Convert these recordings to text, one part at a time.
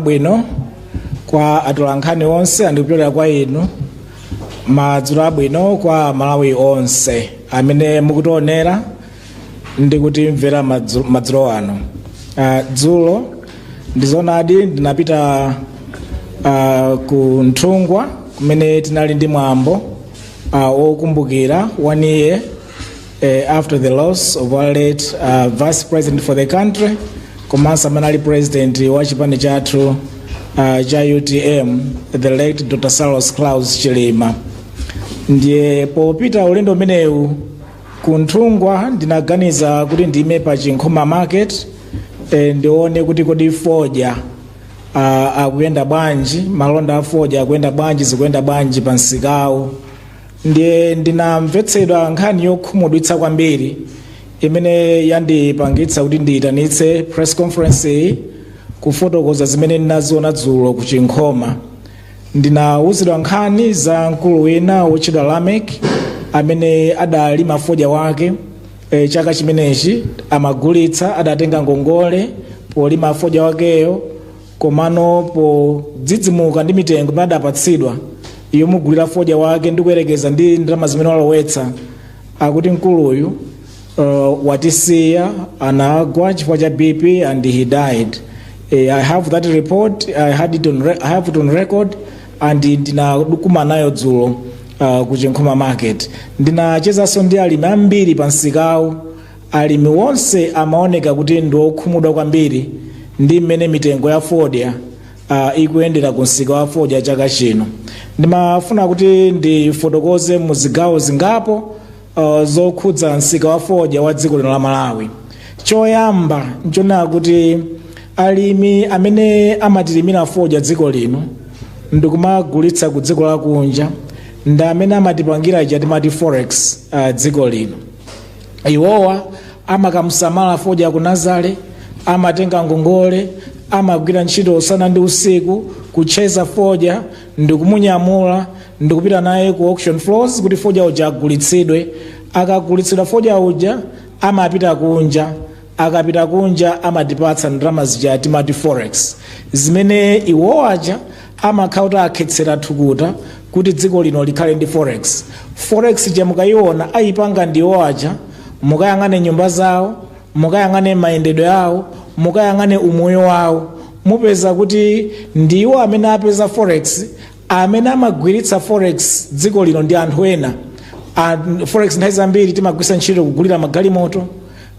abwino kwa atolankhani onse andikupyolera kwa inu madzulo abwino kwa malawi onse amene mukutionera ndi kutimvera madzu- madzulo ano Ah, dzulo ndizonadi ndinapita ah, ku nthungwa kumene tinali ndi mwambo ah, wokumbukira one year uh, after the loss of our late uh, vice president for the country komanso amene anali president wa chipani chathu uh, cha utm the late dr saulos klaus chilima ndiye popita ulendo umenewu ku nthungwa ndinaganiza kuti ndiime pa chinkhoma market eh, ndione kuti kodi fodya uh, akuyenda bwanji malonda a fodya akuyenda bwanji zikuyenda bwanji pa msikawu ndiye ndinamvetsedwa nkhani yokhumudwitsa kwambiri imene yandipangitsa kuti ndiyitanitse press conference iyi kufotokoza zimene ndinaziona dzulo ku chinkhoma ndinawuzidwa nkhani za mkulu wina wotchedwa lamek amene adalima fodya wake e, chaka chimenechi amagulitsa adatenga ngongole polima fodya wakeyo komano podzidzimuka ndi mitengo imene adapatsidwa yomugulira fodya wake ndi kuyerekeza ndi ndalama zimene walowetsa akuti mkuluyu uh, watisiya anagwa chifukwa cha bp and he died Eh, i have that report i had it on, re- I have it on record and ndinakuma nayo dzulo uh, ku chinkhoma market ndinachezanso ndi alimi ambiri pa msikawu Alimi onse amaoneka kuti ndi okhumudwa kwambiri ndi mmene mitengo ya fodya ah, ikuyendera ku msika wa fodya chaka chino. Ndimafuna kuti ndifotokoze mu zigawo zingapo ah, zokhudza msika wa fodya wa dziko lino la Malawi. Choyamba nchonena kuti alimi amene amatilimira fodya dziko lino ndikumagulitsa ku dziko lakunja ndi amene amatipangira ija timati forex ah, dziko lino. iwowa amakamusamala fodya ku nazale amatenga ngongole amagwira ntchito usana ndi usiku kuchezera fodya ndikumunyamula ndikupita naye ku auction floors kuti fodya uja agulitsidwe akagulitsidwa fodya uja amapita kunja akapita kunja amatipatsa ndalama zija timati forex zimene iwo aja amakhala kuti akhetsera thukuta kuti dziko lino likhale ndi forex forex ja mukayiona ayipanga ndiwo aja mukayang'ane nyumba zawo mukayang'ane mayendedwe awo mukayang'ane umoyo wawo mupeza kuti ndiwo amene apeza forex amene amagwiritsa forex dziko lino ndi anthu ena A- forex nthawi zambiri timagwiritsa ntchito kugulira magalimoto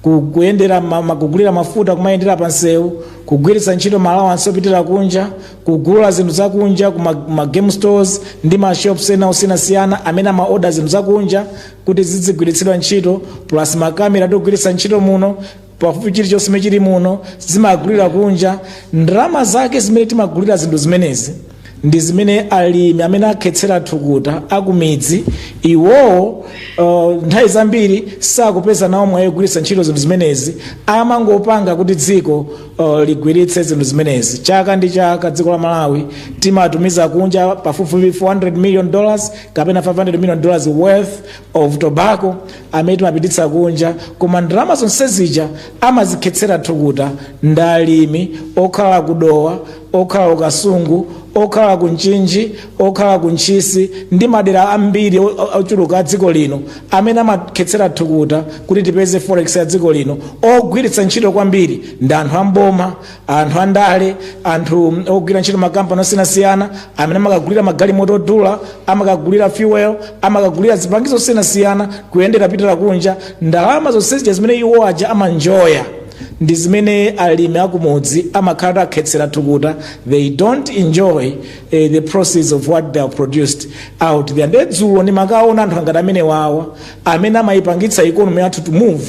ku- kuyendera ma- ma- kugulira mafuta kumayendera pa nsewu kugwiritsa ntchito malawansi opitira kunja kugula zinthu zakunja ku ma- ma game stores ndi ma shops ena osiyanasiyana amene amaoda zinthu zakunja kuti zizigwiritsidwa ntchito plus makamera togwiritsa ntchito muno pafupi chilichonse chimene chili muno zimagulira kunja ndalama zake zimene timagulira zinthu zimenezi ndi zimene alimi amene akhetsera thukuta akumidzi iwowo uh, nthawi zambiri sakupeza nawo mwayi kugwiritsa ntchito zinthu zimenezi amangopanga kuti dziko uh, ligwiritse zinthu zimenezi chaka ndi chaka dziko la malawi timatumiza kunja pafupifupi 400 million dollars kapena 500 million dollars worth of tobacco amene timapititsa kunja koma ndalama zonse zija amazikhetsera thukuta ndi alimi okhala ku dowa okhala ku kasungu okhala ku mchinji okhala ku ntchisi ndi madera ambiri o- o- ochuluka a dziko lino amene amakhetsera thukuta kuti tipeze forex ya dziko lino ogwiritsa ntchito kwambiri ndi anthu amboma anthu andale anthu mm, ogwira ntchito makampani osiyanasiyana amene amakagulira magalimoto odula amakagulira fuel amakagulira zipangizo zosiyanasiyana kuyendera kupitira kunja ndalama zonse zija zimene iwo aja amanjoya ndi zimene alimi akumudzi amakhala atakhetsera thukuta they don't enjoy uh, the process of what they have produced out there nde dzulo ndimakawona anthu angati amene wawa amene amayipangitsa economy yathu to move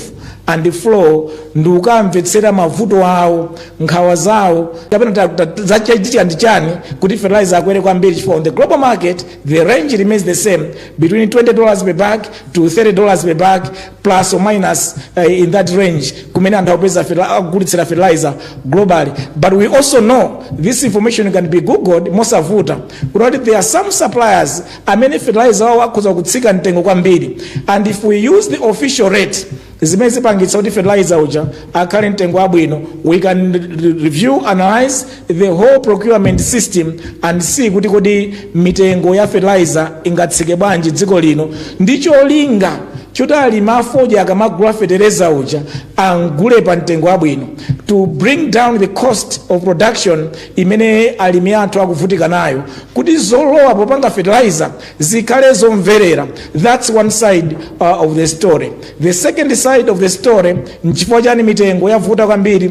and flow ndi ukamvetsera mavuto awo nkhawa zawo kapena zachitika ndi chani kuti fertilizer akwere kwambiri chifukwa on the global market the range remains the same between 20 dollars per bag to 30 dollars per bag plus or minus uh, in that range kumene anthu akupeza fertili- akugulitsira fertilizer globally but we also know this information can be googled mosavuta kuti there are some suppliers amene fertilizer wawo akhoza kutsika mtengo kwambiri and if we use the official rate zimene zipangitsa kuti fertilizer uja akhale mtengo wabwino we can re- review analyze the whole procurement system and see kuti kodi mitengo ya fertilizer ingatsike bwanji dziko lino ndi cholinga choti alimi afodya akamagula fetereza uja amugule pa mtengo wabwino to bring down the cost of production imene alimi athu akuvutika nayo kuti zolowa popanga fertilizer zikhale zomverera that's one side uh, of the story the second side of the story nchifukwa chani mitengo yavuta kwambiri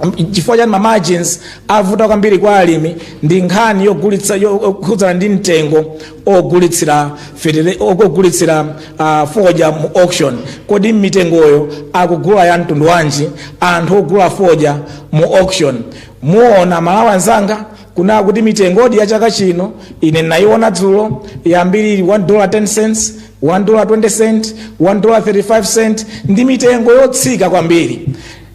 M- chifukwa chani mamargins avuta kwambiri kwa alimi ndi nkhani yogulitsa yokhudzana ndi mtengo ogulitsira fetele- og- ogulitsira uh, fodya mu auction kodi mitengoyo akugula ya mtundu wanji anthu ogula fodya mu auction muona aMalawi anzanga kunena kuti mitengodi ya chaka chino ine nayiona dzulo yambiri 1 dollar 10 cents 1 dollar 20 cent 1 dollar 35 cent ndi mitengo yotsika kwambiri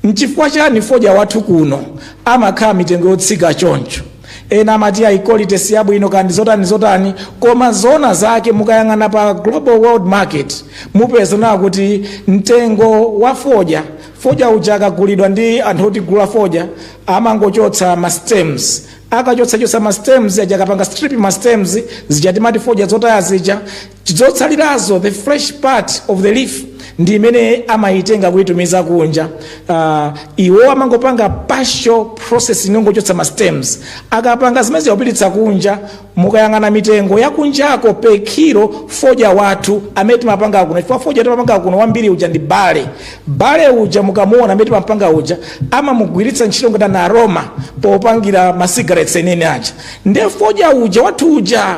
Nchifukwa chani fodya wathu kuno amakhala mitengo yotsika choncho? Ena amati ayi quality siyabwino kaya ndizotani zotani koma zoona zake mukayang'ana pa global world market mupeza kunena kuti mtengo wa fodya, fodya uja akagulidwa ndi anthu otigula fodya amangochotsa ma stems, akachotsa chotsa ma stems aja akapanga strip ma stems zija timati fodya zotaya zija, zotsalirazo the fresh part of the leaf ndi imene amayitenga kuitumiza kunja uh, iwo amangopanga partial process yongochotsa ma stems akapanga zimenezi kupititsa kunja mukayang'ana mitengo yakunjako per kilo fodya wathu amene timapanga kuno chifukwa fodya timapanga kuno wambiri uja ndi burley burley uja mukamuona amene timapanga uja amamugwiritsa ntchito ngati an aroma popangira ma cigarettes enawa aja nde fodya uja wathu uja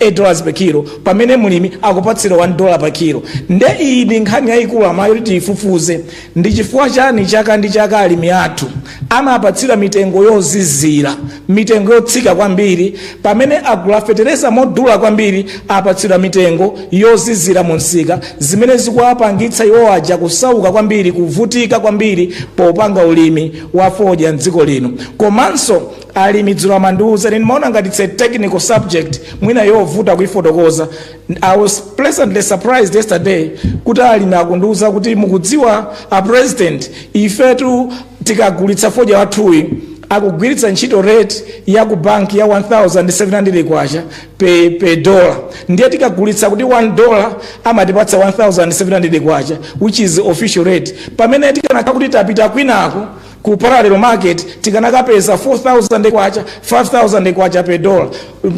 8 dollars per kilo pamene mlimi akupatsidwa 1 dollar pa kilo nde iyi ndi nkhani yayikulu mwayo kuti tiyifufuze ndi chifukwa chani chaka ndi chaka alimi athu amapatsidwa mitengo yozizira mitengo yotsika kwambiri pamene agula fetereza modula kwambiri apatsidwa mitengo yozizira mu msika zimene zikuwapangitsa iwo aja kusauka kwambiri kuvutika kwambiri popanga ulimi wa fodya mdziko lino komanso alimi dzulo amandiuza ine ndimaona ngati its a technical subject mwina yovuta kuifotokoza i was pleasantly surprised yesterday kuti alimi akundiuza kuti mukudziwa a president ifetu tikagulitsa fodya wathuyi akugwiritsa ntchito rate ya ku banki ya 1700 kwacha pe, pe dollar ndiye tikagulitsa kuti 1 dollar amatipatsa 1700 kwacha which is official rate pamene tikanakhala kuti tapita kwinako ku parallel market tikanakapeza 4000 kwacha 5000 kwacha per dollar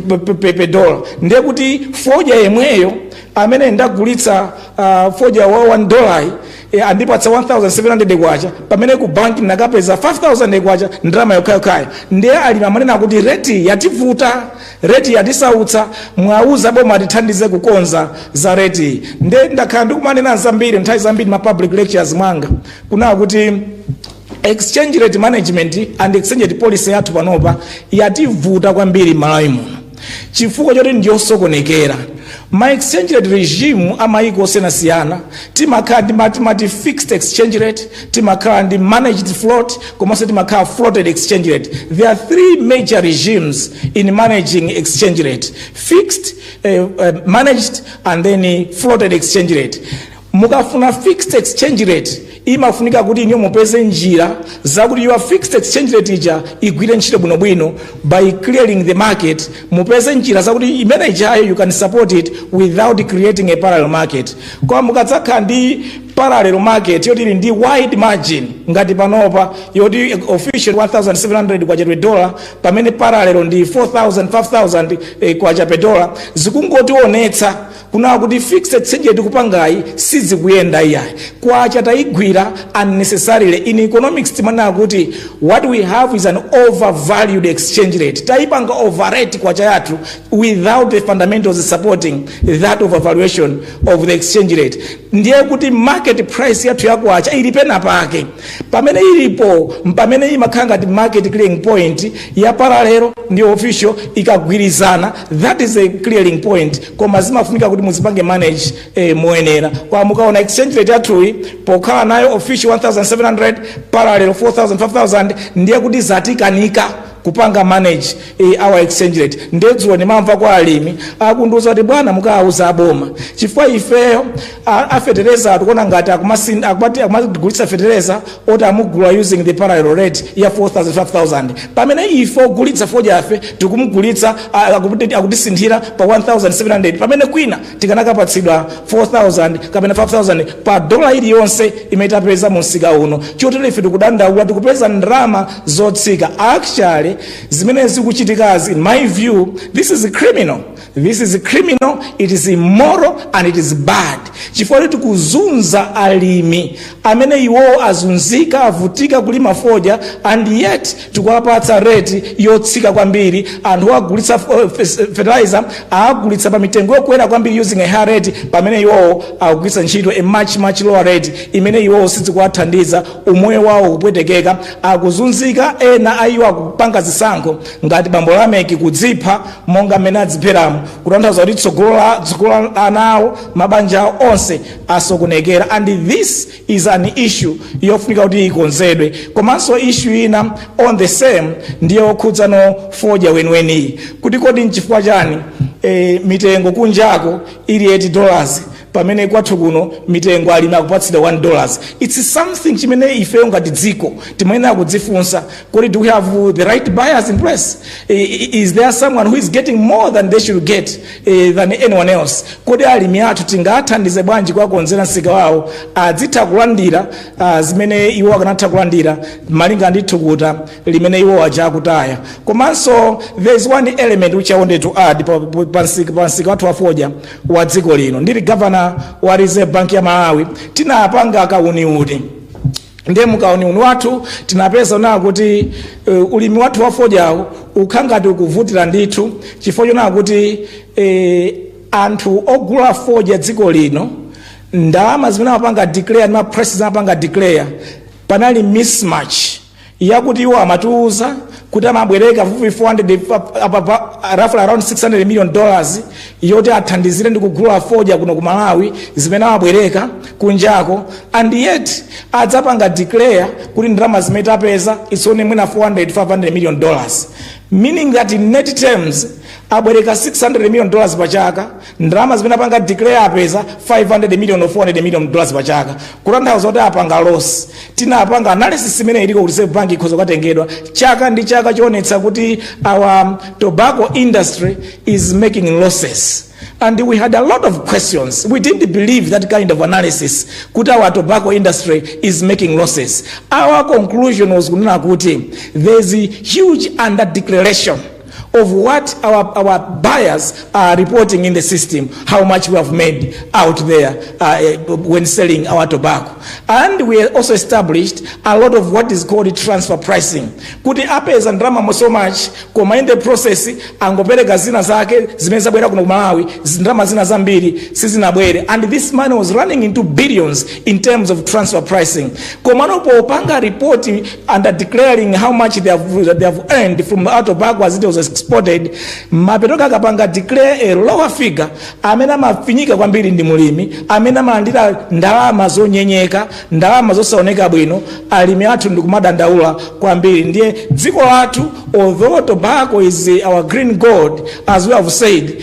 pe- pe- pe- per dollar ndiye kuti fodya yemweyo amene ndagulitsa uh, fodya wa 1 dollar e, andipatsa 1700 kwacha pamene ku banki ndinakapeza 5000 kwacha ndalama yokhayokhayo ndiye alimi amanena kuti reti yativuta reti yatisautsa muwauze boma atithandize kukonza za reti ndiye ndakhala ndikumanena zambiri nthawi zambiri ma public lectures mwanga kunaa kuti exchange rate management and exchange rate policy yathu panopa yativuta kwambiri malawi muno chifukwa choti ndiyosokonekera ma exchange rate regime amayiko osiyanasiyana timakhala ndi ma- timati fixed exchange rate timakhala ndi managed float komanso timakhala floated exchange rate there are three major regimes in managing exchange rate fixed eh, eh, managed and then eh, floated exchange rate Mukafuna fixed exchange rate imafunika kuti inuyo mupeze njira zakuti your fixed exchange rate ija igwire ntchito bwino bwino by clearing the market mupeze njira zakuti imene ijayo you can support it without creating a parallel market koma mukadzakhala ndi parallel market yoti ili ndi wide margin ngati panopa yoti official 1700 kwacha per dollar pamene parallel ndi 4000 5000 eh, kwacha per dollar zikungotionetsa kunaa kuti fixed exchange rate tikupangayi sizikuyenda iyayi kwacha tayigwira unnecessarily in economics timanena kuti what we have is an overvalued exchange rate tayipanga overrate kwacha yathu without the fundamentals supporting that overvaluation of the exchange rate ndiye kuti market price yathu ya kwacha ili pena pake pamene ilipo pamene imakhala ngati market clearing point ya paralelo ndi official ikagwirizana that is a clearing point koma zimafunika kuti muzipange manage eh, moyenera koma mukaona exchange rate yathuyi pokhala nayo official 1700 parallel 4000 5000 ndiye kuti zatikanika kupanga manage eh, our exchange rate nde dzulo ndimamva kwa alimi akundiuza kuti bwana mukawauza aboma chifukwa ifeyo a- afetereza tikuona ngati akumasin- akumati- akumatigulitsa fetereza oti amugula using the parallel rate ya 4000 5000 pamene ife ogulitsa fodyafe tikumugulitsa a- akuti- akutisinthira pa 1700 pamene kwina tikanakapatsidwa 4000 kapena 5000 pa dola iliyonse imene tapeza mu msika uno chotero ife tikudandaula tikupeza ndalama zotsika actually zimene zikuchitikazi in my view this is criminal This is criminal, it is immoral and it is bad. Chifukwa choti tikuzunza alimi amene iwowo azunzika avutika kulima fodya and yet tikuwapatsa rate yotsika kwambiri anthu agulitsa eh, fertilizer agulitsa pa mitengo yokwera kwambiri using a high rate pamene iwowo akugwiritsa ntchito a much much lower rate imene iwowo sizikuwathandiza umoyo wawo ukupwetekeka akuzunzika ena ayiwo akupanga zisankho Ngati bambo Lameki kudzipha monga mmene adzipheramo kutanthauza kuti tsogolo la tsogolo la ana awo mabanja awo onse asokonekera and this is an issue yofunika kuti ikonzedwe komanso issue ina on the same ndi yokhudzano fodya weniweniyu kuti kodi nchifukwa chani eh, mitengo kunjako ili 8 dollars pamene kwathu kuno mitengo alimi akupatsidwa 1 dollar it's something chimene ifeyo ngati dziko timayenera kudzifunsa kodi do we have the right buyers in place I- i- is there someone who is getting more than they should get eh, than anyone else kodi alimi athu tingathandize bwanji kuwakonzera msika wawo azitha kulandira ah, zimene iwo akanatha kulandira malinga ndi thukuta limene iwo aja akutaya komanso there is one element which i wanted to add pa- pa- pa msika pa msika wathu wafodya wa dziko lino ndili gavana wa reserve bank ya malawi tinapanga kauniuni ndiye mukauniuni wathu tinapeza kunena kuti uh, ulimi wathu wa fodyawu ukukhala ngati ukuvutira ndithu chifukwa choona kuti eh, anthu ogula fodya dziko lino ndalama zimene amapanga declare ndi ma prices amapanga declare panali mismatch yakuti iwo amatiuza kuti amabwereka pafupifupi 400 pa- apa- pa- roughly around 600 million dollars yoti athandizire ndi kugula fodya kuno ku malawi zimene amabwereka kunjako and yet adzapanga declare kuti ndalama zimene tapeza it's only mwina 400 500 million dollars meaning that in net terms abwereka 600 million dollars pa chaka ndalama zimene apanga declare apeza 500 million or 400 million dollars pa chaka kutanthauza kuti apanga loss tinapanga analysis imene iliko ku reserve bank ikhoza kukatengedwa chaka ndi chaka choonetsa kuti our tobacco industry is making losses and we had a lot of questions we didn't believe that kind of analysis kuti our tobacco industry is making losses our conclusion was kunena kuti there is huge under declaration of what our, our buyers are reporting in the system, how much we have made out there uh, when selling our tobacco. And we also established a lot of what is called transfer pricing. Kuti apeza ndalama so much, koma in the process angopereka zina zake zimene zabwera kuno ku Malawi, ndalama zina zambiri sizinabwere. And this money was running into billions in terms of transfer pricing. komano popanga report under declaring how much they have, they have earned from our tobacco as it was exported mapeto ake akapanga declare a lower figure amene amafinyika kwambiri ndi mulimi amene amalandira ndalama zonyenyeka ndalama zosaoneka bwino alimi athu ndikumadandaula kwambiri ndiye dziko lathu although tobacco is our green gold as we have said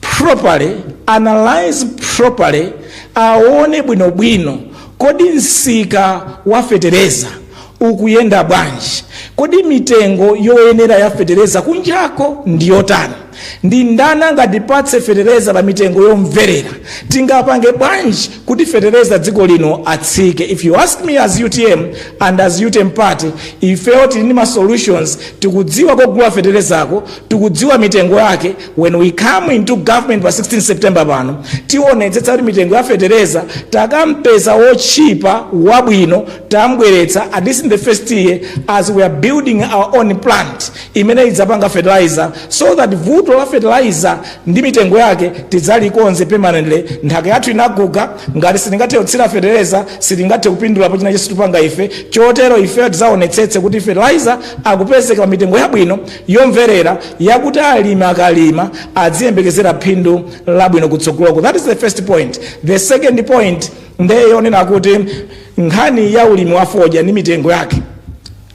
properly, analyse properly, aone bwinobwino kodi msika wa fetereza ukuyenda bwanji, kodi mitengo yoyenera ya fetereza kunjako ndi yotani, ndi ndani angatipatse fetereza pa mitengo yomverera, tingapange bwanji kuti fetereza dziko lino atsike. If you ask me as UTM and as UTM party, ifeyo tili ndi ma solutions, tikudziwa kogula feterezako, tikudziwa mitengo yake, when we come into government pa 16 september pano tionetsetsa kuti mitengo ya fetereza takampeza wotchipa wabwino tambweretsa at least in the first year as we are building our own plant imene idzapanga fertilizer so that vuto la fertilizer ndi mitengo yake tidzalikonze permanently nthaka yathu inaguga ngati sitingathe kutsira fetereza sitingathe kupindulapo china chilichonse tupanga ife chotero ifeyo tidzaonetsetse kuti fertilizer akupezeka pa mitengo yabwino yomverera yakuti alimi akalima adziyembekezera phindu labwino kutsogoloko that is the first point the second point ndiye yonena kuti nkhani ya ulimi wa fodya ndi mitengo yake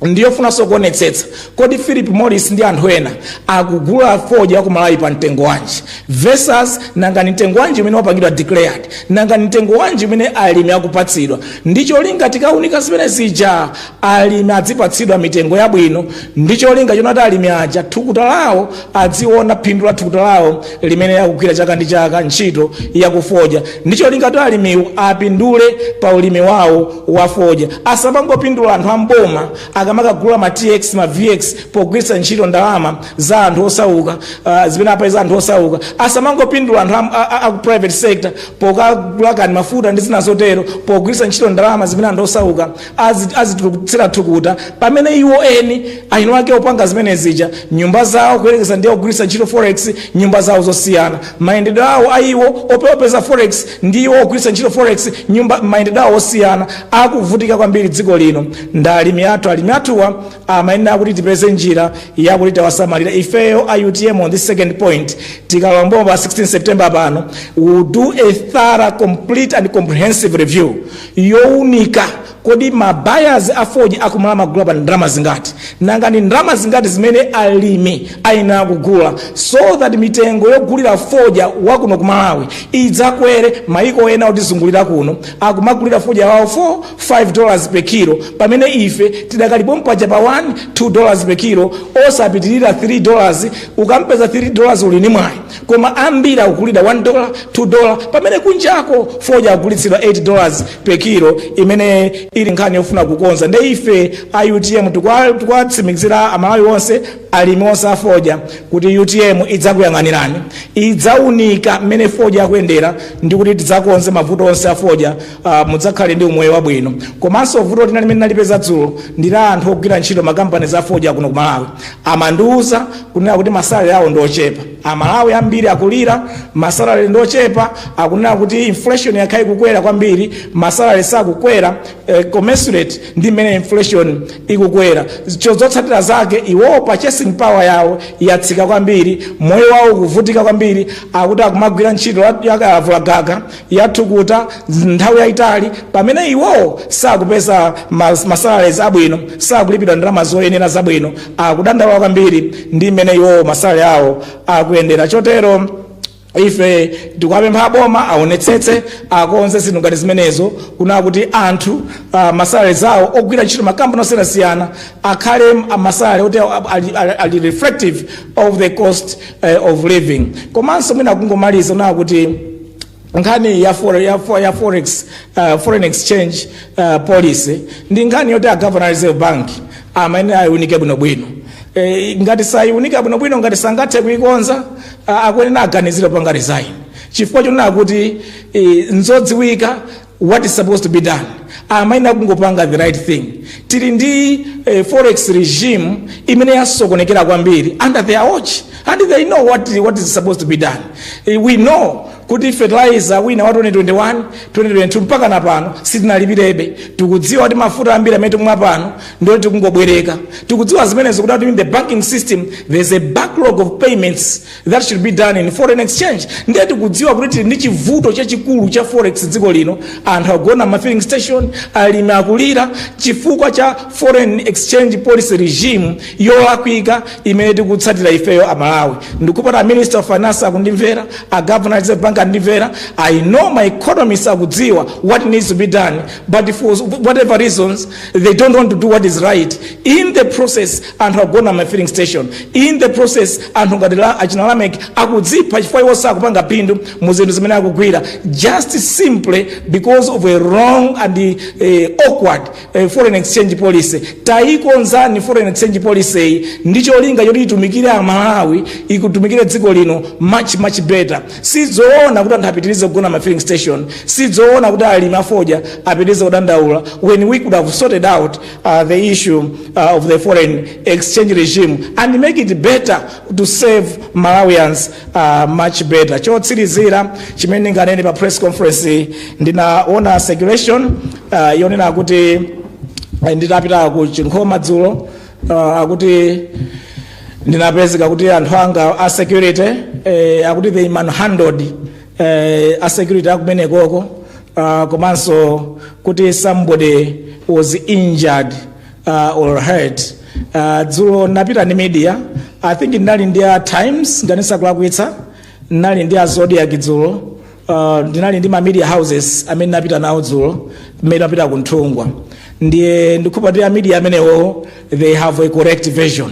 ndiyofunanso kuonetsetsa kodi philip morris ndi anthu ena akugula fodya ku malawi pa mtengo wanji versus nanga ni mtengo wanji umene wapangidwa declared nanga ni mtengo wanji umene alimi akupatsidwa ndicholinga tikaunika zimene zija alimi adzipatsidwa mitengo yabwino ndi cholinga chonena kuti alimi aja thukuta lawo adziona phindu la thukuta lawo limene akugwira chaka ndi chaka ntchito yakufodya ndi cholinga kuti alimiwo apindule pa ulimi wawo wa fodya asamangopindula anthu amboma akamakagula ma tx ma vx pogwiritsa ntchito ndalama za anthu osauka uh, zimene apeza anthu osauka asamangopindula anthu am- a- a- aku private sector pokagula kani mafuta ndi zina zotero pogwiritsa ntchito ndalama zimene anthu osauka azi- azitulukutsira thukuta pamene iwo eni ayino ake opanga zimene zija nyumba zawo kuyerekeza ndi ogwiritsa ntchito forex nyumba zawo zosiyana mayendedwe awo a iwo ope- opeza forex ndi iwo ogwiritsa ntchito forex nyumba mayendedwe awo osiyana akuvutika kwambiri dziko lino ndi alimi athu alimi athuwa amayenera kuti tipeze njira yakuti tawasamalira ifeyo a utm on this second point tikalowa mboma pa 16 september pano we'll do a thorough complete and comprehensive review younika kodi ma buyers a fodya akumalawi amagula pa ndalama zingati nanga ndi ndalama zingati zimene alimi ayenera kugula so that mitengo yogulira fodya wakuno ku malawi idzakwere maiko ena otizungulira kuno akumagulira fodya wawo 4 5 dollars per kilo pamene ife tidakali pompaja pa 1 2 dollars per kilo osapitirira 3 dollars ukampeza 3 dollars uli ni mwayi koma ambiri akugulidwa 1 dola 2 dola pamene kunjako fodya akugulitsidwa 8 dollars per kilo imene ili nkhani yofuna kukonza nde ife a utm tikwa- tikuwatsimikizira amalawi onse alimi onse a fodya kuti utm idzakuyang'anirani idzaunika mmene fodya akuyendera ndi kuti tidzakonze mavuto onse a fodya Uh, mudzakhale ndi umoyo wabwino komanso vuto lina limene nalipeza dzulo ndi la anthu ogwira ntchito makampani za fodya kuno ku Malawi amandiuza kunena kuti masalale awo ndi ochepa aMalawi ambiri akulira masalale ndi ochepa akunena kuti inflation yakhala ikukwera kwambiri masalale sakukwera eh, commensurate ndi mmene inflation ikukwera zotsatira zake iwowo purchasing power yawo yatsika kwambiri moyo wawo ukuvutika kwambiri akuti akumagwira ntchito ya kalavula gaga ya thukuta nthawi yayitali pamene iwowo sakupeza mas- masalaries abwino sakulipidwa ndalama zoyenera zabwino akudandaula kwambiri ndi mmene iwowo masalale awo akuyendera chotero ife tikuwapempha aboma aonetsetse akonze zinthu ngati zimenezo kunena kuti anthu uh, masalale zawo ogwira ntchito makampani osiyanasiyana akhale a- masalale oti a- ali- ali ali reflective of the cost uh, of living komanso mwina kungomaliza nakuti nkhani ya, fore, ya, fo- ya forex uh, foreign exchange uh, policy ndi nkhani yoti a governor reserve bank amayenera ayiunike bwinobwino e, ngati sayiunika bwinobwino ngati sangathe kuikonza uh, akuyenera aganizire kupanga resign chifukwa chonena kuti e, nzodziwika what is supposed to be done amayenera kungopanga the right thing tili ndi eh, forex regime imene yasokonekera kwambiri under their watch and they know what, what is supposed to be done eh, we know kuti fertilizer wina wa 2021 2022 mpakana pano sitinalipirebe tikudziwa kuti mafuta ambiri amene tikumwa pano ndi oti tikungobwereka tikudziwa zimenezo kuti in the banking system there's a backlog of payments that should be done in foreign exchange ndiye tikudziwa kuti tili ndi chivuto chachikulu cha forex dziko lino anthu agona ma filling station alimi akulira chifukwa cha foreign exchange policy regime yolakwika imene tikutsatira ifeyo aMalawi ndikupempha a minister of finance akundimvera a governor reserve bank akundimvera i know ma economists akudziwa what needs to be done but for whatever reasons they don't want to do what is right in the process anthu agona ma filling station in the process anthu ngati achina Lameck akudzipha chifukwa iwo sakupanga phindu mu zinthu zimene akugwira just simply because of a wrong and eh, awkward eh, foreign exchange policy tayikonzani foreign exchange policy yi ndi cholinga choti itumikire aMalawi itumikire dziko lino much much better sizoona kuti anthu apitirize kugona ma filling station sizoona kuti alimi afodya apitirize kudandaula when we could have sorted out Uh, the issue uh, of the foreign exchange regime and make it better to serve Malawians uh, much better. Chotsirizira chimene ndinganene pa press conference ndinaona circulation uh, yonena kuti nditapita ku Chinkhoma dzulo uh, akuti ndinapezeka kuti anthu anga a security eh, akuti they manhandled eh, a security akumenekoko uh, komanso kuti somebody was injured uh, or hurt uh, dzulo napita ndi media i think ndinali ndi a times nganisa kulakwitsa ndinali ndi a zodiac dzulo uh, ndinali ndi ma media houses amene napita nawo dzulo mmene napita ku Nthungwa ndiye ndikhulupira kuti a media amenewo they have a correct version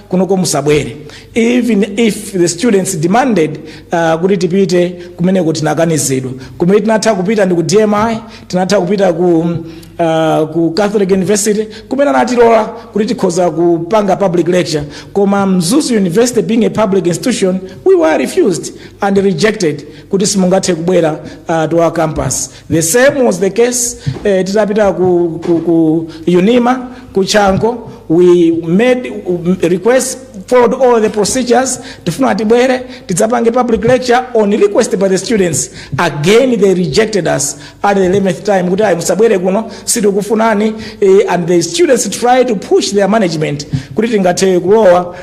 kunoko musabwere even if the students demanded uh, kuti tipite kumeneko tinakanizidwa kumene tinatha kupita ndi ku dmi tinatha kupita ku, uh, ku catholic university kumene anatilola kuti tikhoza kupanga public lecture koma mzuzu university being a public institution we were refused and rejected kuti simungathe kubwera uh, to our campus The same was the case eh, titapita ku, ku, ku unima ku chango we made um, request followed all the procedures tifuna tibwere tidzapange public lecture on request by the students again they rejected us at the 11th time kuti ayi musabwere kuno sitikufunani eh, and the students try to push their management kuti tingathe kulowa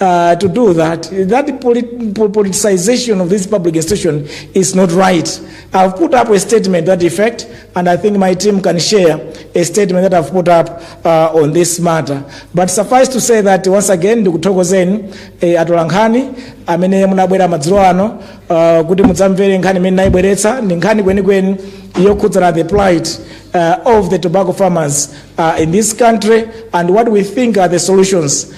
uh, to do that. That polit- po- politicization of this public institution is not right. I've put up a statement to that effect, and I think my team can share a statement that I've put up uh, on this matter. But suffice to say that once again, ndikuthokozeni eh, atolankhani amene munabwera madzulo ano uh, kuti mudzamvere nkhani imene ndayibweretsa ndi nkhani kwenikweni yokhudzana the plight uh, of the tobacco farmers uh, in this country and what we think are the solutions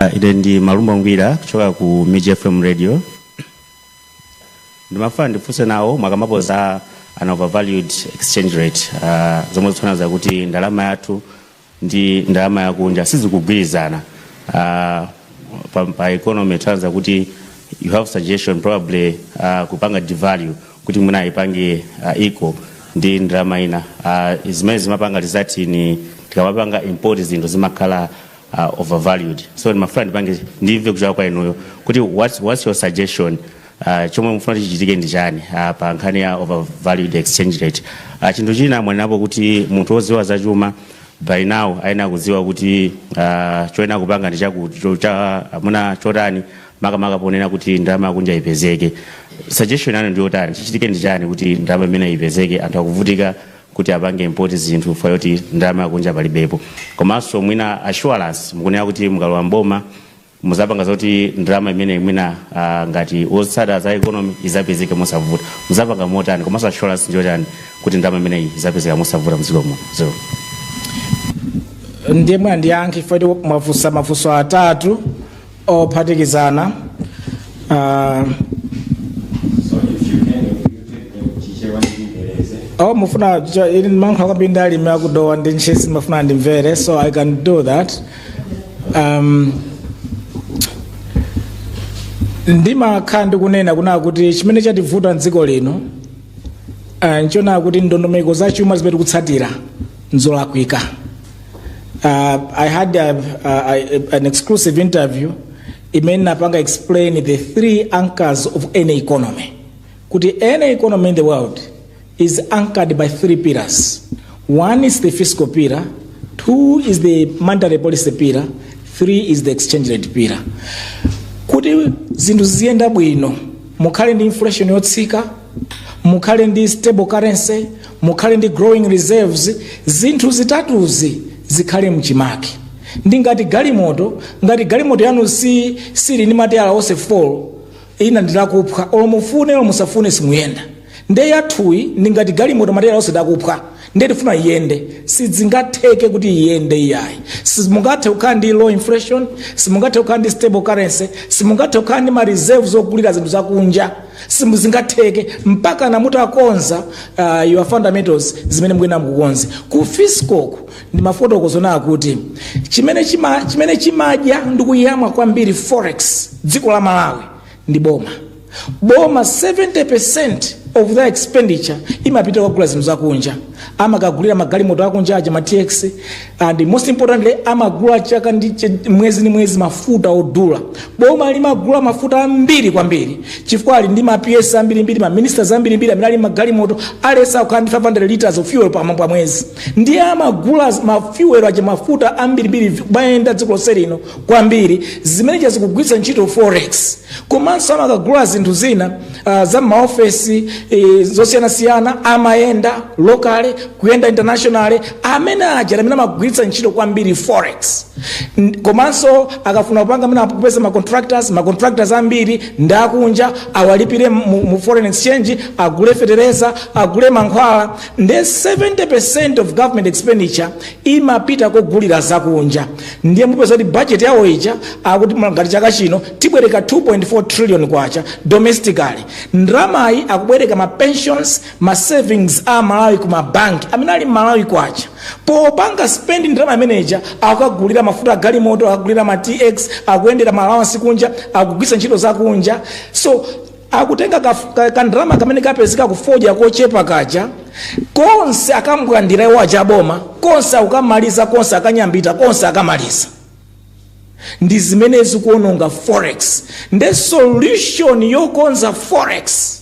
Ah, ine ndi malumba ngwira kuchoka ku mij fm radio ndimafuna ndifunse nawo mwakambapo za an overvalued exchange rate ah, zomwe zikutanthauza kuti ndalama yathu ndi ndalama yakunja sizikugwirizana uh, pa, pa economy kutanthauza kuti you have suggestion probably uh, kupanga devalue kuti mwina ayipange uh, equal ndi ndalama ina uh, zimene zimapanga result in tikamapanga import zinthu zimakhala uh, overvalued so ndimafuna ndipange ndimve kuchoka kwa inuyo kuti what's, what's your suggestion Uh, chomwe mufuna chichitike ndi chani uh, pa nkhani ya overvalued exchange rate uh, chinthu china mwanenapo kuti munthu wodziwa za chuma by now ayenera kudziwa kuti uh, choyenera kupanga ndi chakuti cho- chamuna chotani makamaka ponena kuti ndalama yakunja ipezeke suggestion yanu ndi yotani chichitike ndi chani kuti ndalama imeneyi ipezeke anthu akuvutika kuti apange import zinthu chifukwa choti ndalama yakunja palibepo komanso mwina assurance mukunena kuti mukalowa mboma muzapanga zoti ndalama imeneyi mwina ah, ngati otsata za economy izapezeke mosavuta muzapanga motani komanso assurance ndiyotani kuti ndalama imeneyi izapezeka mosavuta mdziko muno zero ndiye mwina ndiyankhe chifukwa kuti mwafunsa mafunso atatu ophatikizana Ah, oh mufuna cho- ili ndimankhula kwambiri ndi alimi aku Dowa ndi Ntchisi amafuna ndimvere so i can do that um, ndimakhala ndikunena kunaa kuti chimene chativuta mdziko lino uh, nchonaa kuti ndondomeko za chuma zimene tikutsatira nzolakwika uh, i had a, a, a, an exclusive interview imene inapanga explain the three anchors of any economy kuti any economy in the world is anchored by three pillars. One is the fiscal pillar, two is the monetary policy pillar, three is the exchange rate pillar. Kuti zinthu ziziyenda bwino, mukhale ndi inflation yotsika, mukhale ndi stable currency, mukhale ndi growing reserves, zinthu zitatuzi zikhale mchimake. Ndi ngati galimoto, ngati galimoto yanu si sili ndi matayala onse 4, Ina ndilakuphwa olo mufune olo musafune simuyenda nde yathuyi ndi ngati galimoto matayala onse ndakuphwa nde tifuna iyende sidzingatheke kuti iyende iyayi simungathe kukhala ndi low inflation simungathe kukhala ndi stable currency simungathe kukhala ndi ma reserves ogulira zinthu zakunja simuzingatheke mpaka namutakonza uh, your fundamentals zimene mukuyenda mukukonze ku fiscal ku ndimafotokoza kunaa kuti chimene chima chimene chimadya ndi kuyamwa kwambiri forex mdziko la malawi ndi boma boma 70% of their expenditure imapita kukagula zinthu zakunja amakagulira magalimoto akunja aja ma tx and most importantly amagula chaka ndi ch- mwezi ndi mwezi mafuta odula boma limagula mafuta ambiri kwambiri chifukwa ali ndi ma ps ambirimbiri ma ministers ambirimbiri amene ali magalimoto alesa kukhala ndi 500 liters of fuel pa pa mwezi ndiye amagula mafuel aja mafuta ambirimbiri kumayenda dziko lonse lino kwambiri zimene cha zikugwiritsa ntchito forex komanso amakagula zinthu zina uh, za maofesi uh, zosiyanasiyana amayenda locally kuyenda internationally amene aja amene amagwiritsa ntchito kwambiri forex N- komanso akafuna kupanga amene akupeza ma contractors ma contractors ambiri ndi akunja awalipire mu, mu foreign exchange agule fetereza agule mankhwala ndi 70% of government expenditure imapita kogulira zakunja ndiye mupeza kuti budget yawo ija akuti ngati chaka chino tibwereka 2.4 trillion kwacha domestically ndramayi akubwereka ma pensions ma savings a malawi ku mabanki amene ali mmalawi kwacha popanga spend ndrama imeneja akagulira mafuta agalimoto akagulira ma tx akuyendera ma allowance kunja akugwisa ntchito zakunja so akutenga kaf- ka- kandalama kamene kapezeka kufodya kochepa kaja konse akambwandira iwo achaboma konse akukamaliza konse akanyambita konse akamaliza ndi zimene zikuononga forex nde solution yokonza forex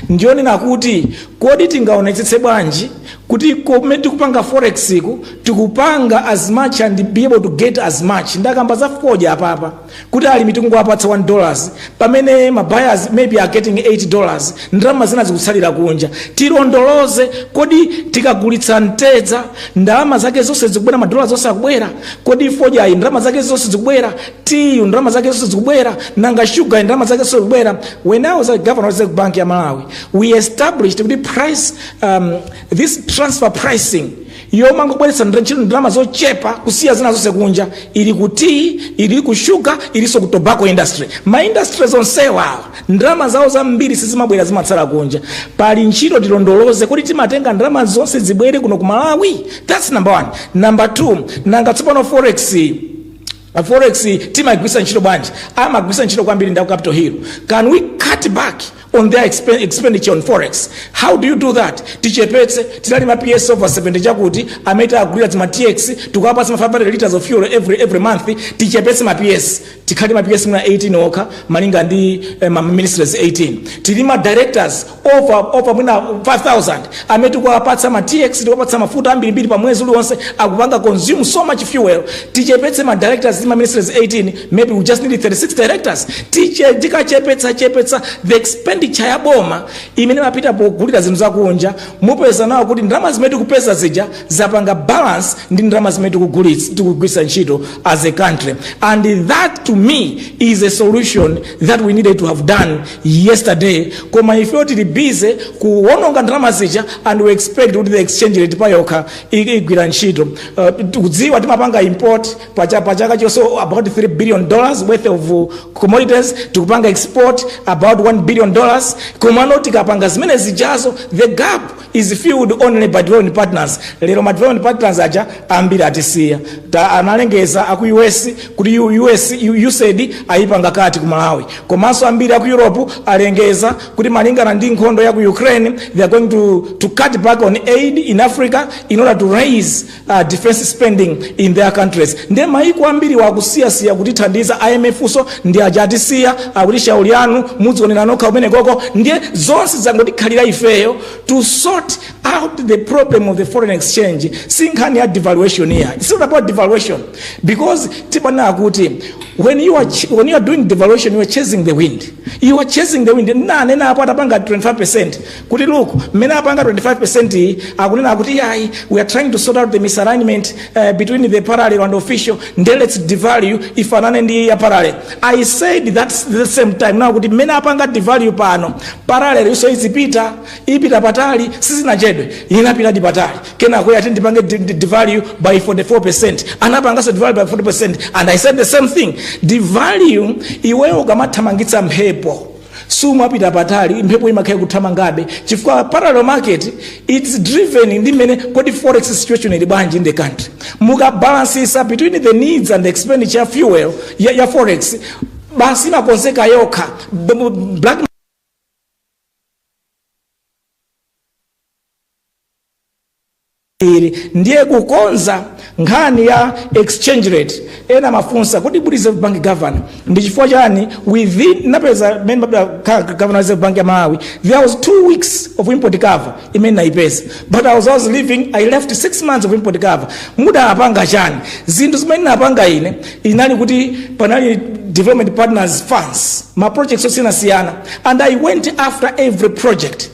ndiyonena kuti kodi tingaonetsetse bwanji kuti kumene tikupanga forex ku tikupanga as much and be able to get as much ndakamba za fodya apapa kuti alimi tikungowapatsa 1 dollars pamene ma buyers maybe are getting 8 dollars ndalama zina zikutsalira kunja tilondoloze kodi tikagulitsa mtedza ndalama zake zonse zikubwera madola onse akubwera kodi fodyayi ndalama zake zonse zikubwera tiyu ndalama zake zonse zikubwera nanga shuga ndalama zake zonse zikubwera when i was a governor of reserve bank ya malawi we established kuti price um, this transfer pricing yomangobweretsa ntchito ndalama zochepa kusiya zina zonse kunja ili ku tea ili ku sugar ilinso ku tobacco industry ma industry onsewa awa ndalama zawo zambiri sizimabwera zimatsala kunja pali ntchito tilondoloze kuti timatenga ndalama zonse zibwere kuno ku malawi that's number one number two nanga tsopano forex A forex timaigwisa ntchito bwanji? Amagwisa ntchito kwambiri ndaku Capital Hill. Can we cut back on their expen- expenditure on forex? How do you do that? Tichepetse tili ndi ma PS over 70 chakuti amene tawagulira ma TX tikuwapatsa ma 500 liters of fuel every every month tichepetse ma PS tikhale ndi ma PS mwina 18 okha malinga ndi eh, ma ministries 18 tili ndi ma directors over over mwina 5000 amene tikuwapatsa ma tx tikuwapatsa mafuta ambirimbiri pa mwezi uliwonse akupanga consume so much fuel tichepetse ma directors ndi ma ministers 18 maybe we just need 36 directors Tiche- tikachepetsa chepetsa the expenditure ya boma imene imapita pogulira zinthu zakunja mupeza nawo kuti ndalama zimene tikupeza zija zapanga balance ndi ndalama zimene tikugulitsa- tikugwiritsa ntchito as a country and that to me is a solution that we needed to have done yesterday koma ifeyo tili busy kuwononga ndalama zija and we expect kuti the exchange rate payokha i- igwira ntchito uh, tikudziwa timapanga import pacha- pachaka chonse about 3 billion dollars worth of uh, commodities tikupanga export about 1 billion dollars komano tikapanga zimene zijazo the gap is filled only by development partners lero ma development partners aja ambiri atisiya ta analengeza aku us kuti U- us U- usaid ayipanga cut ku malawi komanso ambiri aku europe alengeza kuti malingana ndi nkhondo ya ku ukraine they are going to, to cut back on aid in africa in order to raise uh, defense spending in their countries nde maiko ambiri akusiyasiya kutithandiza IMF-so ndi aja atisiya akuti shauli yanu mudzionera nokha komweko ndiye zonse zangotikhalira ifeyo to sort out the problem of the foreign exchange si nkhani ya devaluation iyayi it's not about devaluation because tipana akuti when you are, ch- when you are doing devaluation you are chasing the wind you are chasing the wind nanena apo atapanga 25 percent kuti look mmene apanga 25% iyi akunena akuti yayi we are trying to sort out the misalignment uh, between the parallel and official nde let's devalue ifanane ndi ya parallel i said that the same time now kuti mmene apanga devalue pano parallel yonso izipita ipita patali sizinachedwe inapitadi patali kenako ati ndipange de- de- devalue by 44% anapanganso devalue by 40% and i said the same thing devalue iweyo ukamathamangitsa mphepo sumapita patali mphepo imakhala ikuthamangabe chifukwa parallel market it's driven ndi mmene kodi forex situation ili bwanji in the country mukabalansisa between the needs and the expenditure ya fuel ya, ya forex basi imakonzeka yokha B- b- black ili ndiye kukonza nkhani ya exchange rate ena amafunsa kuti uli reserve bank governor ndi chifukwa chani within ndinapeza mmene mabda ka- ka- governor wa reserve bank ya malawi there was two weeks of import cover imene ndinaipeza but i was, I was leaving i left six months of import cover mudapanga chani zinthu zimene napanga ine inali kuti panali development partners funds ma projects osiyanasiyana and i went after every project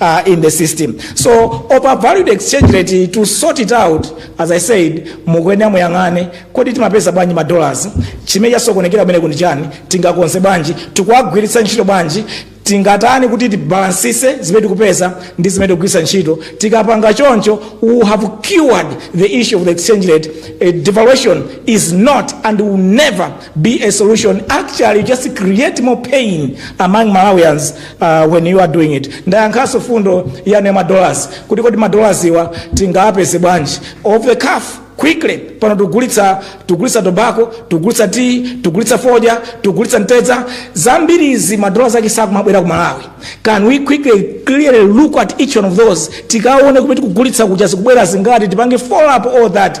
uh, in the system so overvalued exchange rate to sort it out as i said mukuyenera muyang'ane kodi timapeza bwanji ma dollars chimene chasokonekera kumeneku ndi chani tingakonze bwanji tikuwagwiritsa ntchito bwanji tingatani kuti tibalansise zimene tikupeza ndi zimene tikugwiritsa ntchito tikapanga choncho we have cured the issue of the exchange rate uh, devaluation is not and will never be a solution actually just create more pain among malawians uh, when you are doing it ndayankhanso mfundo yanu ya madollars kuti kodi madollars awa tingawapeze bwanji off the cuff quickly pano tigulitsa tigulitsa tobacco tigulitsa tea tigulitsa fodya tigulitsa mtedza zambiri izi madollars ake sakumabwera ku malawi can we quickly clearly look at each one of those tikaone kumene tikugulitsa kuja zikubwera zingati tipange follow up all that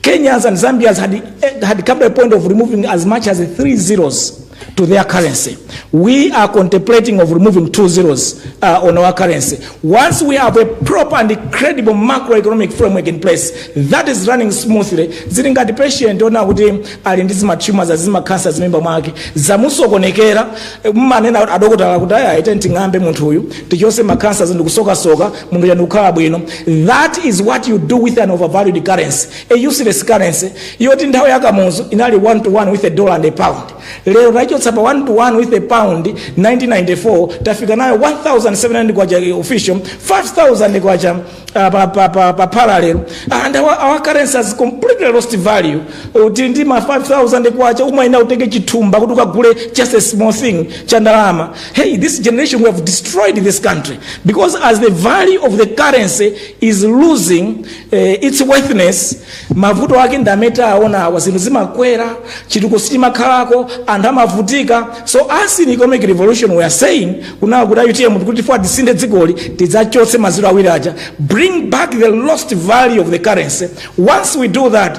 Kenyans and Zambians had, had come to a point of removing as much as three zeros to their currency. We are contemplating of removing two zeros uh, on our currency. Once we have a proper and credible macroeconomic framework in place that is running smoothly, zili ngati patient ona kuti ali ndi zimatumors zimakhansa m'mimba mwake zamusokonekera mmanena adokotala kuti ayi tamung'ambe munthu uyu tichose makhansa ndi kusokasoka munthu uja ndikukhala bwino that is what you do with an overvalued currency a useless currency yoti nthawi ya kamuzu inali 1 to 1 with a dollar and a pound lero taichotsa pa 1 to 1 with a pound 1994 tafika nayo 1700 kwacha official 5000 kwacha uh, pa, pa, pa, pa parallel and our, our currency has completely lost value uli ndi ma 5000 kwacha umayenera utenge chithumba kuti ukagule just a small thing cha ndalama Hey, this generation, we have destroyed this country because as the value of the currency is losing uh, its worthiness, mavuto ake ndi amene tawaona awa zinthu zimakwera chitukuko sichimakhalako anthu amavutika so us in economic revolution we are saying kunena kuti utm kuti ife tisinthe dzikoli tidzachotse mazero awiri aja bring back the lost value of the currency once we do that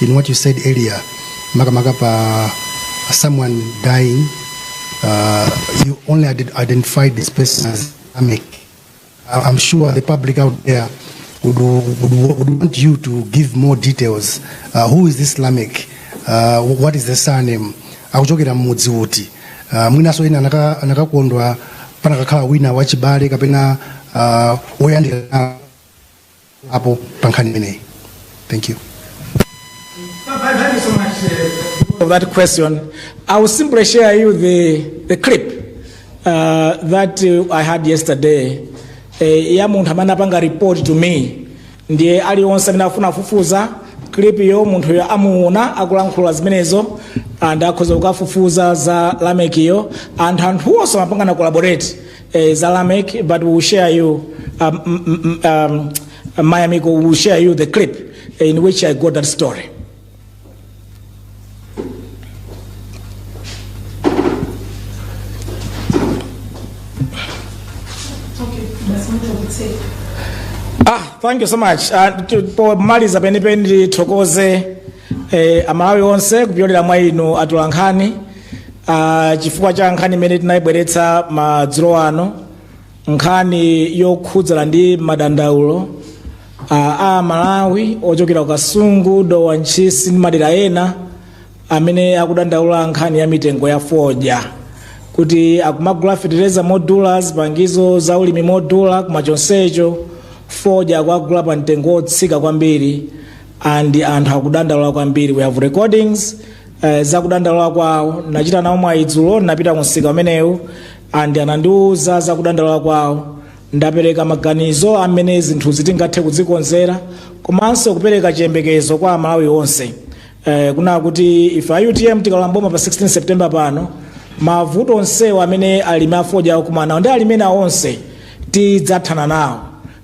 in what you said earlier makamaka pa someone dying uh, you only ident- identified this person as Amek. I- I'm sure the public out there would, would, would want you to give more details. Uh, who is this Lamek? Uh, what is the surname? akuchokera mmudzi uti uh, mwinaso ena anaka- anakakondwa panakakhala wina wachibale kapena uh, woyandikana apo pa nkhani imeneyi thank you Thank you so much uh, for that question. I will simply share you the, the clip uh, that uh, I had yesterday. Eh, ya munthu amene apanga report to me ndiye alionse amene afuna kufufuza clip yo munthu yo amuona akulankhula zimenezo and akhoza kukafufuza za Lamekiyo and anthu onse amapangana collaborate uh, Zalamek, but we will share you, um, mm, mm, um, uh, my amigo, we will share you the clip in which I got that story. Ah, thank you so much. Uh, to- pomaliza penipeni tithokoze eh, amalawi onse kupyolera mwa inu atolankhani Ah, chifukwa cha nkhani imene tinayibweretsa madzulo ano nkhani yokhudzana ndi madandaulo ah, amalawi ochokera ku kasungu dowa ntchisi ndi madera ena amene akudandaula nkhani ya mitengo ya fodya kuti akumagula fetereza modula zipangizo za ulimi modula koma chonsecho fodya akuwagula pa mtengo wotsika kwambiri and anthu akudandaula kwambiri we have recordings eh, za kudandaula kwawo ndinachita nawo mwayi dzulo ndinapita ku msika umenewu and anandiwuza za kudandaula kwawo ndapereka maganizo amene zinthu zitingathe kuzikonzera komanso kupereka chiyembekezo kwa amalawi onse eh, kunena kuti ife a utm tikalowa mboma pa 16 september pano mavuto onsewo amene alimi afodya akumanawo ndi alimi ena onse tidzathana nawo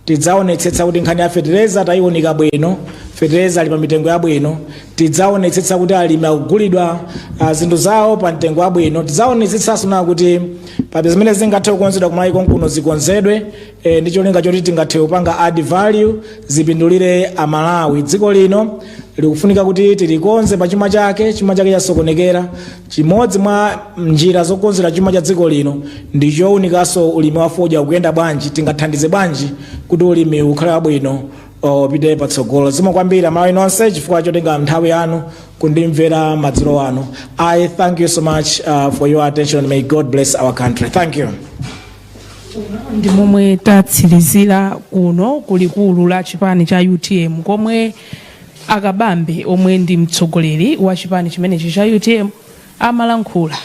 Tidzaonetsetsa kuti nkhani ya fetereza tayiunika bwino, fetereza ali pa mitengo yabwino, tidzaonetsetsa kuti alimi akugulidwa ah, zinthu zawo pa mtengo wabwino, tidzaonetsetsanso kunena kuti pa zimene zingathe kukonzedwa kumalawi konkuno zikonzedwe eh, ndi cholinga choti tingathe kupanga add value zipindulire amalawi. Dziko lino likufunika kuti tilikonze pa chuma chake, chuma chake chasokonekera. Chimodzi mwa njira zokonzera chuma cha dziko lino ndi chounikanso ulimi wa fodya ukuyenda bwanji, tingathandize bwanji kuti ulimiwu ukhale wabwino upite patsogolo. Zikomo kwambiri amalawi nonse chifukwa chotenga nthawi yanu kundimvera madzulo ano. I thank you so much uh, for your attention may God bless our country. Thank you. ndi momwe tatsirizira kuno kulikulu la chipani cha utm komwe A Kabambe omwe ndi mtsogoleri wa chipani chimenechi cha utm amalankhula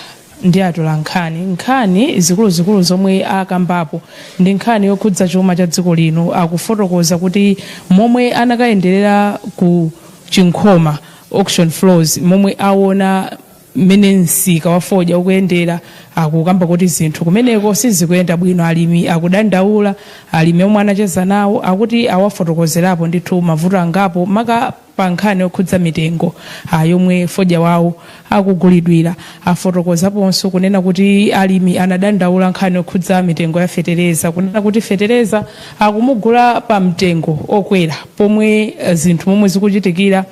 ndi atolankhani nkhani zikuluzikulu zomwe akambapo ndi nkhani yokhudza chuma cha dziko lino akufotokoza kuti momwe anakayenderera ku chinkhoma auction floors momwe awona mmene msika wa fodya ukuyendera akukamba kuti zinthu kumeneko sizikuyenda bwino alimi akudandaula alimi omwe anacheza nawo akuti awafotokozerapo ndithu mavuto angapo maka pa nkhani yokhudza mitengo ah, yomwe fodya wawo akugulidwira afotokozaponso kunena kuti alimi anadandaula nkhani yokhudza mitengo ya fetereza kunena kuti fetereza akumugula pa mtengo okwera pomwe eh, zinthu momwe zikuchitikira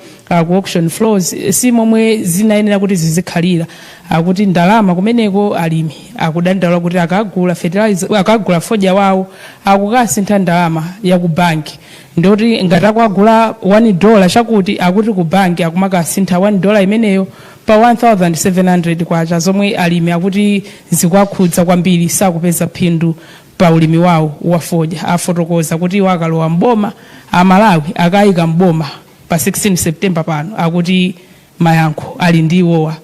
ku auction floors eh, si momwe zinayenera kuti zizikhalira akuti ndalama kumeneko alimi akudandaula kuti akagula fertilizer akagula fodya wawo akukasintha ndalama ya ku banki ndoti ngati akwagula 1 dollar chakuti akuti ku banki akumakasintha 1 dollar imeneyo pa 1700 kwacha zomwe alimi akuti zikuwakhudza kwambiri sakupeza phindu pa ulimi wawo wa fodya afotokoza kuti iwo akalowa m'boma aMalawi akawayika m'boma pa 16 September pano akuti mayankho ali ndi iwowa.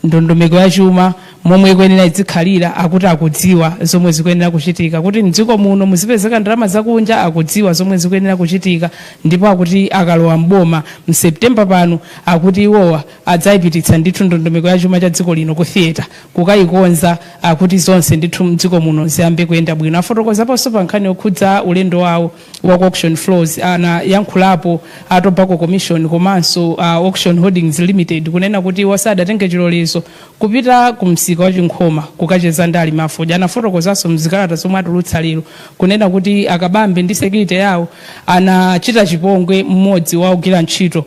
Ndondomeko ya chuma momwe ikuyenera izikhalira akuti akudziwa zomwe zikuyenera kuchitika. Kuti m'dziko muno muzipezeka ndalama zakunja akudziwa zomwe zikuyenera kuchitika ndipo akuti akalowa m'boma mu September pano akuti iwowa adzayipititsa ndithu ndondomeko ya chuma cha dziko lino ku theatre kukayikonza akuti zonse ndithu m'dziko muno ziyambe kuyenda bwino. Afotokozaponso pa nkhani yokhudza ulendo wawo. wa ku auction floors anayankhulapo a tobacco commission komanso a auction holdings limited kunena kuti iwo sadatenge chilolezo kupita ku msika wa chinkhoma kukacheza ndi alimi afodya anafotokozanso mzikalata zomwe atulutsa lero kunena kuti akabambe ndi security yawo anachita chipongwe mmodzi wa ogwira ntchito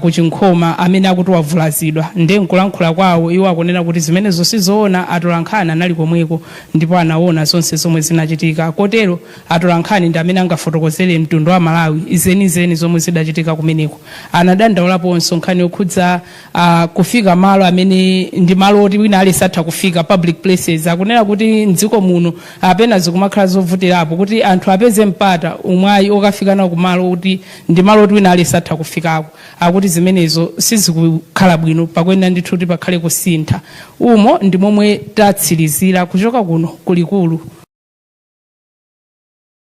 ku Chinkhoma amene akuti wavulazidwa nde nkulankhula kwawo iwo akunena kuti zimenezo sizoona atolankhani anali komweko ndipo anaona zonse zomwe zinachitika kotero atolankhani ndi amene angafotokozere mtundu wa Malawi zenizeni zomwe zidachitika kumeneko. Anadandaulaponso nkhani yokhudza a kufika malo amene ndi malo oti wina aliyense atha kufika, public places, akunena kuti m'dziko muno apa pena zikumakhala zovutirapo kuti anthu apeze mpata, umwayi, okafika nawo kumalo oti ndi malo oti wina aliyense atha kufikako, akuti zimenezo sizikukhala bwino, pakuyenera ndithu kuti pakhale kusintha. Umo ndi momwe tatsirizira kuchoka kuno ku likulu.